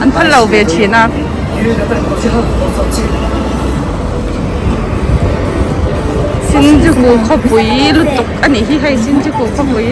An phal lo ve thin a. Shinjuku khawpui lutuk a nih hi hei Shinjuku khawpui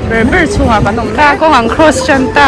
ber ber chungah kan awm ta kawng ang cross ṭan ta.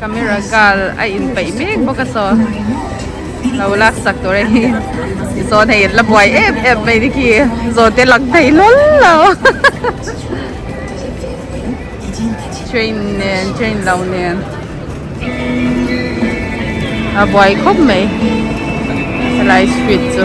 Camera girl a in peih mek bawk a saw lo lak sak tur a hi i saw hei la buai em em mai ni khi zaw te lang thei lawm lo train nen train lo nen a buai khawp mai helai street chu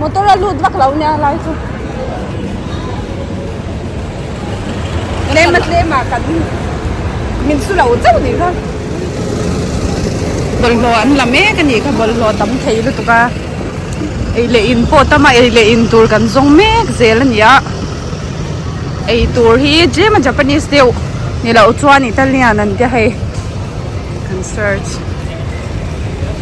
Motor a lut vak lo nia lai chu. Tlem a tlem a kan min su lo chauh ni kha. Bawlhhlawh an la mek a nih kha bawlhhlawh tam thei lutuk a. Ei leh in pawh tam a ei leh in tur kan zawng mek zel a nia. Ei tur hi tlem a Japanese deuh ni loh chuan Italian an tia hei. Kan search.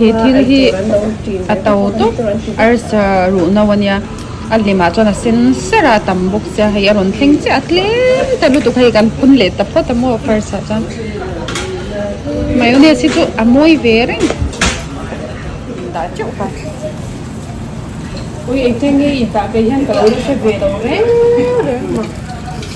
he thil hi a to tawp arsa ruh no ania a hlim ah chuan a sen ser a a tam bawk sia hei a rawn thleng chiah a tlem ta lutuk hei kan phun leh ta phawt a maw first ah chuan mayonnaise hi chu a mawi ve reng dah teuh ka ui engtin nge in tah te hian ka lo la hre ve lo reng reng a.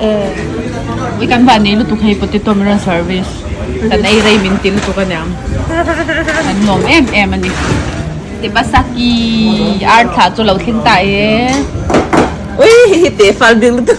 Ehh. I kan van nei lutuk hei potato min rawn service. Kan ei rei min ti lutuk a niang. Kan nuam em em a ni. Tebasaki ar thla chu lo thleng ta e. Ui hei hi teh fal bik lutuk.